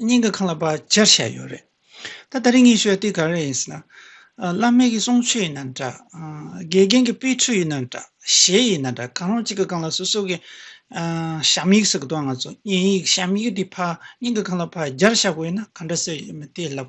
སྙིང་གི་ཁང་ལ་པར་སྦྱར་བྱས་ཡོད་རེད། ད་ད་རིང་ངས་ཤོད་དུས་ག་རེ་ཡིན་ཟེར་ན། བླ་མེད་ཀྱི་གསུང་ཆོས་ཡིན་ན་འདྲ། དགེ་རྒན་གྱི་དཔེ་འཁྲུལ་ཡིན་ན་འདྲ། གཞས་ཡིན་ན་འདྲ་གང་རུང་གཅིག་གི་སྒང་ལ་སོ་སོ་གི། ཞབས་ཡིག་ཟེར་གི་འདུག་ང་ཚོ་བརྙན་ཡིག་ཞབས་ཡིག་དེ་ཕར་སྙིང་གི་ཁང་ལ་ཕར་སྦྱར་བྱ་དགོས་ན་ག་འདྲ་བྱེད་ཡོད་མེད་དེ་ལབ།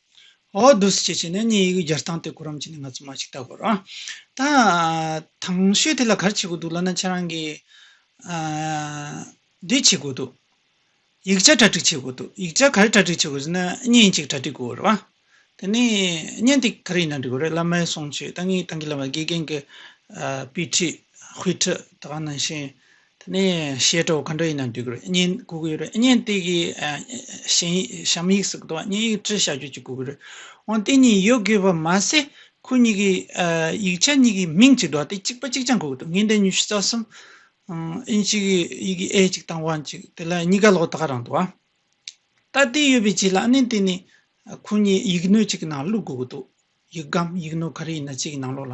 ཨོ་རྡུ་སི་ཅེས་བྱས་ནས་གཉིས་ཡིག་སྦྱར་སྟངས་དེ་གོ་རམ་བྱས་ནས་ང་ཚོ་མ་ཞིག་ལྟ་དགོས་རོགས། ད་དང་ཤོས་དེ་ལ་ག་རེ་བྱེད་དགོས་འདུག་ལབ་ན་ཁྱེད་རང་གིས། འདི་བྱེད་དགོས་འདུག་ཡིག་ཆ་གྲ་སྒྲིག་བྱེད་དགོས་འདུག་ཡིག་ཆ་ག་རེ་གྲ་སྒྲིག་བྱེད་དགོས་ཟེར་ན་བརྙན་གཅིག་གྲ་སྒྲིག་དགོས་རེད་བ། དེ་ནས་བརྙན་དེ་ག་རེ་ཡིན་ན་འགྲིག་དགོས་རེད་བླ་མའི་གསུང་ཆོས་ད་ངས་ཏང་གི་བླ་མ་དགེ་རྒན་གྱི་དཔེ་ཁྲིད་དཔེ་ཁྲིད་ད་ག་ནང་བཞིན་དེ་ནས་ཤེལ་གྲོགས་ག་འདྲ་ཡིན་ན་འདོད་གི་རེད་བརྙན་བསྐུར་གི་ཡོད་རེད་བརྙན་དེ་གི་གཞན་ཡིག་གཤམ་ཡིག་སུ་གི་འདུག་བ་བརྙན་ཡིག་བྲི་བྱ་རྒྱུ་གཅིག་དགོས་གི་རེད་འོན་ཏེ་གཉིས་ཡོད་དགོས་པ་མ་ཟད་ཁོ་གཉིས་ཀྱི་ཡིག་ཆ་གཉིས་ཀྱི་མིང་གཅིག་འདུག་བ་དེ་གཅིག་པ་གཅིག་རྐྱང་དགོས་གི་འདུག་ངས་འདི་ཉི་ཤུ་རྩ་གསུམ་ཨིན་གཅིག་གི་ཡི་གེ་ཨེ་གཅིག་དང་བ་གཅིག་དེ་ལ་གཉིས་ཀ་ལོག་ལྟ་ག་རང་འདུག་བ། ལྟ་དེ་ཡོད་པའི་རྗེས་ལ་ཨ་ནེ་དེ་ནས་ཁོ་གཉིས་ཡིག་སྣོད་གཅིག་གི་ནང་བླུག་དགོས་གི་འདུག་ཡིག་སྒམ་ཡིག་སྣོད་ག་རེ་ཡིན་ན་གཅིག་གི་ནང་ལོག་ལ